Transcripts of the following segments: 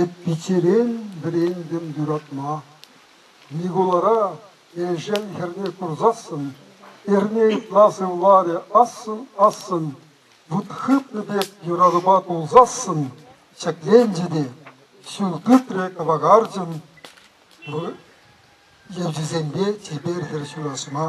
Ӳт-пичерен вӗрентӗм юратма. Микулара Элшел хӗрне курсассӑн, эрне ытла сывларӗ ассӑн-ассӑн, вут хыпнӑ пек юратупа кулсассӑн ҫӗкленчӗ те ҫул тытрӗ кӑвакарчӑн евчисемпе чипер хӗр ҫураҫма.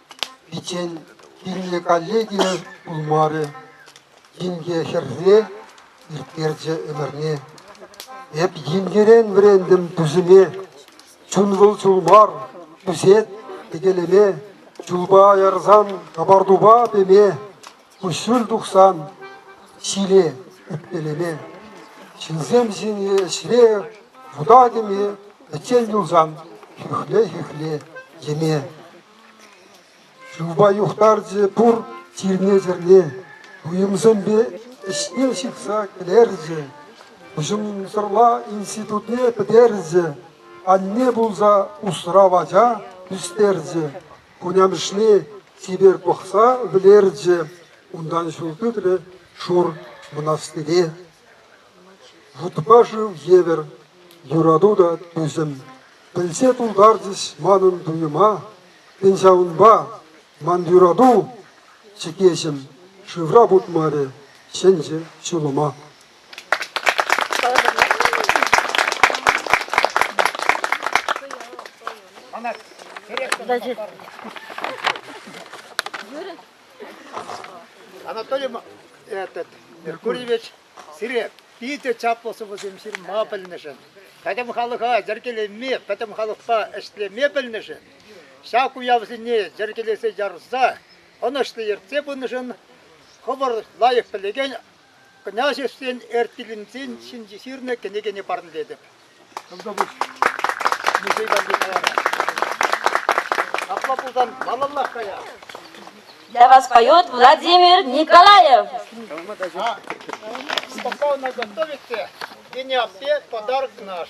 Пиччен пирӗнле коллеги пулмарӗ, инке хӗрсе ирттерчӗ ӗмӗрне. Эп инкерен вӗрентӗм тусӗме. Чун вӑл чул мар, тусет текелеме. Чулпа ярсан капартупа пеме. Куҫҫуль тухсан ҫиле ӗппелеме, ҫынсем ҫине ӗҫре вутатӑм-и, пӗччен юлсан хӳхле-хӳхле йӗме. Шывпа юхтарчӗ пур чирне-чӗрне, туйӑмсемпе ӗҫне ҫыхса кӗлерчӗ. Уҫӑмсӑрла институтне пӗтерчӗ, анне пулса усрав ача ӳстерчӗ. хунямӑшне типер пӑхса вӗлерчӗ, унтан ҫул тытрӗ шур мӑнастире. Вутпа шыв евӗр юрату та тӳсӗм. Пӗлсе тултарчӗҫ манӑн туйӑма, тен ҫавӑнпа ман юрату чӗкеҫӗм шывра путмарӗ, чӗнчӗ ҫулӑма. Она Значит... Анатолий этот, Меркурьевич сире питӗ чаплӑ сӑвӑсем ҫырма пӗлнӗшӗн, пӗтӗм халӑха йӗркелеме, пӗтӗм халӑхпа ӗҫлеме пӗлнӗшӗн, ҫак уявсене йӗркелесе ярса ӑнӑҫлӑ ертсе пынӑшӑн хӑвӑр лайӑх пӗлекен Княҫевсен Эртилӗнсен ҫинче ҫырнӑ кӗнекене парнелетӗп. Тӑвтапуҫ музей валли калара. Апла пулсан малаллах кая. Для вас поет Владимир Николаев. А, когда вы нас готовите, Вене аппе подарок наш.